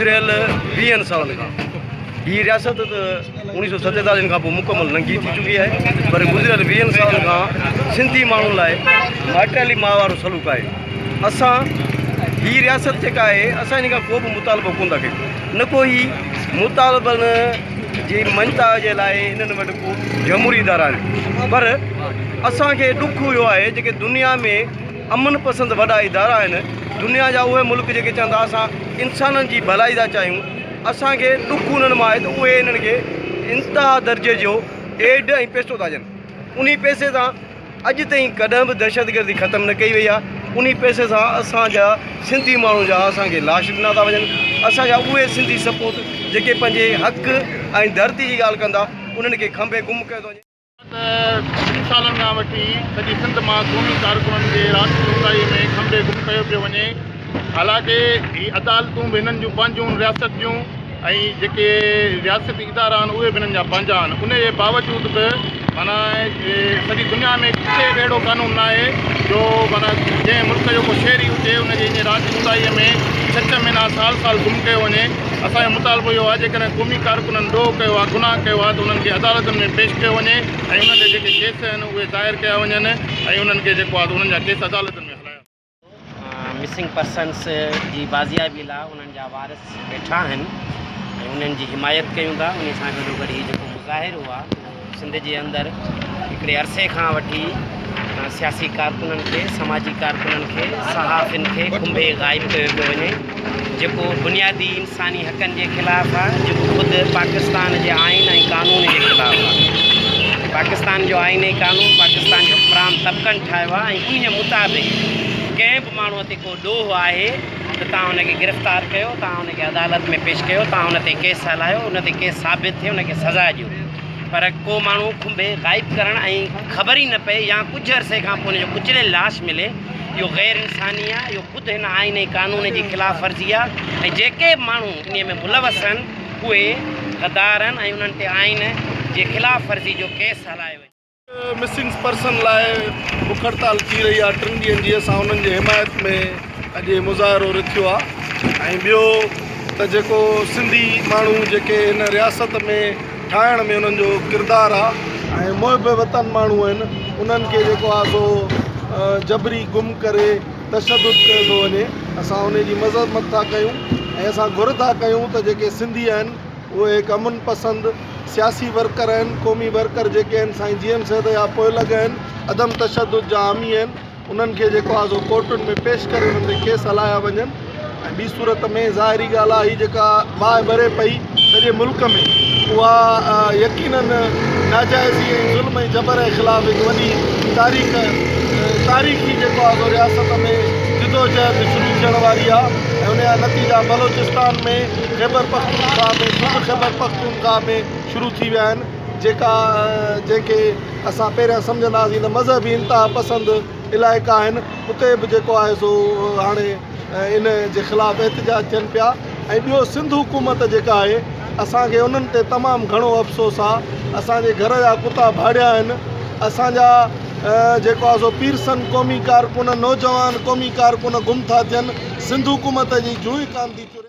گذريل ويهن سالن کان هي رياست ته اوڻيهه سو ستيتاليهن کان پوء مڪمل ننگي ٿي چڪي آهي پر گذريل ويهن سالن کان سنڌي ماڻهن لاء مائٽيلي ماء وارو سلوڪ آهي اسان هي رياست جيڪا آهي اسان ان کان ڪو به مطالبو ڪون ٿا ڪيون نه ڪو هي مطالبن جي مڃتا جي لاء انهن وٽ ڪو جمهوري ادارا آهن پر اسانکي ڏک اهو آهي جيڪي دنيا ۾ امن پسند وڏا ادارا آهن دنيا جا اهي ملڪ جيڪي چون ٿا اسان انسانن جي ڀلائي ٿا چاهيون اسان کي ڏک انهن مان آهي ته اهي انهن کي انتها درجي جو ايڊ ۽ پيسو ٿا ڏين انهي پيسي سان اڄ تائين ڪڏهن به دهشتگردي ختم نه ڪئي وئي آهي انهي پيسي سان اسان جا سنڌي ماڻهو جا اسان کي لاش ڏنا ٿا وڃن اسان جا اهي سنڌي سپوت جيڪي پنهنجي حق ۽ ڌرتي جي ڳالهه ڪندا انهن کي کنڀي گم ڪيو ٿو وڃي. ته ڪجهه سالن کان وٺي سڄي سنڌ مان قومي ڪارڪنن کي رات جي اونداهي ۾ کنڀي گم ڪيو پيو وڃي حالانڪه هي عدالتون به هنن جون پنهنجون رياست جون ۽ جيڪي رياستي ادارا آهن اهي به هنن جا پنهنجا آهن ان جي باوجود به معنيٰ سڄي دنيا ۾ ڪٿي به اهڙو قانون ناهي جو معنيٰ جنهن ملڪ جو ڪو شهري هجي ان کي ائين رات جي اونداهي ۾ ڇهه ڇهه مهينا سال سال گم ڪيو وڃي اسان جو مطالبو اهو آهي جيڪڏهن قومي ڪارڪنن ڏوهه ڪيو آهي، گناهه ڪيو آهي ته انهن کي عدالتن ۾ پيش ڪيو وڃي ۽ انهن جا جيڪي ڪيس آهن اهي دائر ڪيا وڃن ۽ انهن کي جيڪو آهي ته انهن جا ڪيس عدالتن ۾ هلايا وڃن. مسنگ پرسنس جي بازيابي لاء انهن جا وارث ويٺا آهن ۽ انهن جي حمايت ڪيون ٿا، انهي سان گڏوگڏ هي جيڪو مظاهرو آهي اهو. سنڌ جي اندر هڪڙي عرصي کان وٺي سياسي ڪارڪنن کي، سماجي ڪارڪنن کي، صحافين کي کنڀي غائب ڪيو پيو وڃي جيڪو بنيادي انساني حقن جي خلاف آ جيڪو خود پاڪستان جي آئين ۽ قانون جي خلاف آ. پاڪستان جو آئين ۽ قانون پاڪستان جي حڪمران طبقن ٺاهيو آ ۽ انهيء مطابق ڪنهن به ماڻهو تي ڪو ڏوهه آهي ته توهان ان کي گرفتار ڪيو، توهان ان کي عدالت ۾ پيش ڪيو، توهان ان تي ڪيس هلايو، ان تي ڪيس ثابت ٿئي ان کي سزا ڏيو. پر ڪو ماڻهو کنڀي غائب ڪرڻ ۽ خبر ئي نه پئي يا ڪجهه عرصي کان پوء ان جو ڪچليل لاش ملي، اهو غير انساني آهي، اهو خود هن آئين ۽ قانون جي خلاف ورزي آهي ۽ جيڪي به ماڻهو انهيء ۾ ملوث آهن، اهي غدار آهن ۽ انهن تي آئين جي خلاف ورزي جو ڪيس هلايو وڃي. مسنگ پرسن لاء بک هڙتال ٿي رهي آهي ٽن ڏينهن جي اسان انهن جي حمايت ۾ اڄ هي مظاهرو رٿيو آهي ۽ ٻيو ته جيڪو سنڌي ماڻهو جيڪي هن رياست ۾ ٺاهڻ ۾ انهن جو ڪردار آهي ۽ محب وطن ماڻهو آهن انهن کي جيڪو آهي سو جبري گم ڪري تشدد ڪيو ٿو وڃي اسان ان جي مذمت ٿا ڪيون ۽ اسان گهر ٿا ڪيون ته جيڪي سنڌي آهن اهي هڪ امن پسند سياسي ورڪر آهن، قومي ورڪر جيڪي آهن سائين جي ايم سيد جا پوئلڳ آهن، عدم تشدد جا حامي آهن، انهن کي جيڪو آهي سو ڪورٽن ۾ پيش ڪري انهن تي ڪيس هلايا وڃن ۽ ٻي صورت ۾ ظاهري ڳالهه آهي هي جيڪا باهه ٻري پئي سڄي ملڪ ۾ اها يقيناً ناجائزي ۽ ظلم ۽ جبر جي خلاف هڪ وڏي تاريخ تاريخي جيڪو آهي سو رياست ۾ جدوجهد شروع ٿيڻ واري آهي ۽ ان جا نتيجا بلوچستان ۾ خيبرپختونخوا ۾ صوبه خيبرپختونخوا ۾ شروع ٿي ويا آهن جيڪا جنهن کي اسان پهريان سمجهنداسين ته مذهبي انتها پسند علائقا آهن اتي به جيڪو آهي سو هاڻي ان جي خلاف احتجاج ٿين پيا ۽ ٻيو سنڌ حڪومت جيڪا آهي اسان کي انهن تي تمام گهڻو افسوس آهي اسان جي گهر جا ڪتا ڀاڙيا آهن اسان جا جيڪو آهي سو پيرسن قومي ڪارڪن نوجوان قومي ڪارڪن گم ٿا ٿين سنڌ حڪومت جي جونئين ڪانڌي چري